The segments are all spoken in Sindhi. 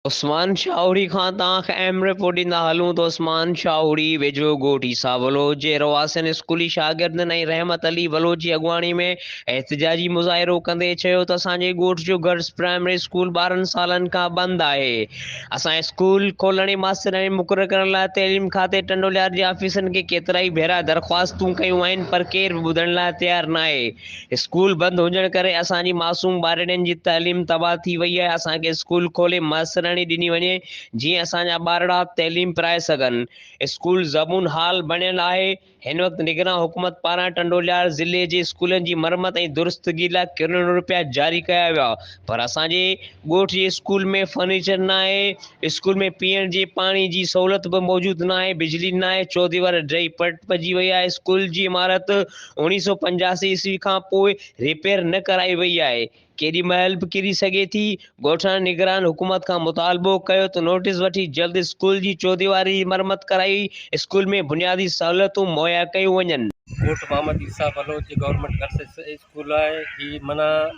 عثمان شاهوڙي کان تان کي اهم رپورٽ ڏيندا هلون ته عثمان شاهوڙي ويجهو ڳوٺ عيسيٰ بلوچ جي رهواسين، اسڪولي شاگردن ۽ رحمت علي بلوچ جي اڳواڻي ۾ احتجاجي مظاهرو ڪندي چيو ته اسان جي ڳوٺ جو گرلس پرائمري اسڪول ٻارهن سالن کان بند آهي، اسان اسڪول کولڻ ۽ ماسترياڻي مقرر ڪرڻ لاء تعليم کاتي ٽنڊوليار جي آفيسرن کي ڪيترائي ڀيرا درخواستون ڪيون آهن پر ڪير به ٻڌڻ لاء تيار ناهي. اسڪول بند هجڻ ڪري اسان جي معصوم ٻارڙين جي تعليم تباهه ٿي وئي آهي، اسان کي اسڪول کولي ماسترياڻي ڏني وڃي جيئن اسان جا ٻارڙا تعليم پرائي سگهن، اسڪول زبون حال بڻيل آهي، هن وقت نگران حڪومت پاران ٽنڊوليار ضلعي جي اسڪولن جي مرمت ۽ درستگي لاء ڪروڙين روپيا جاري ڪيا ويا پر اسان جي ڳوٺ جي اسڪول ۾ فرنيچر ناهي، اسڪول ۾ پيئڻ جي پاڻي جي سهولت به موجود ناهي، بجلي ناهي، چوديوار ڊهي پٽ پئجي وئي آهي، اسڪول جي عمارت اوڻيهه سؤ پنجاسي عيسوي کان پوء ريپيئر نه ڪرائي وئي آهي، ڪيڏي مهل به ڪري سگهي ٿي، ڳوٺاڻي نگران حڪومت کان مطالبو ڪيو ته نوٽيس وٺي جلد اسڪول جي چوديواري جي مرمت ڪرائي اسڪول ۾ بنيادي سهولتون مهيا ڪيون وڃن. ڳوٺ محمد عيسيٰ بلوچ جي گورنمينٽ گرلس اسڪول آهي، هي منان.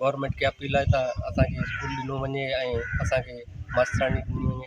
گورمنٽ کي اپيل آهي ته اسان کي اسڪول ڏنو وڃي ۽ اسان کي ماستراڻي ڏني وڃي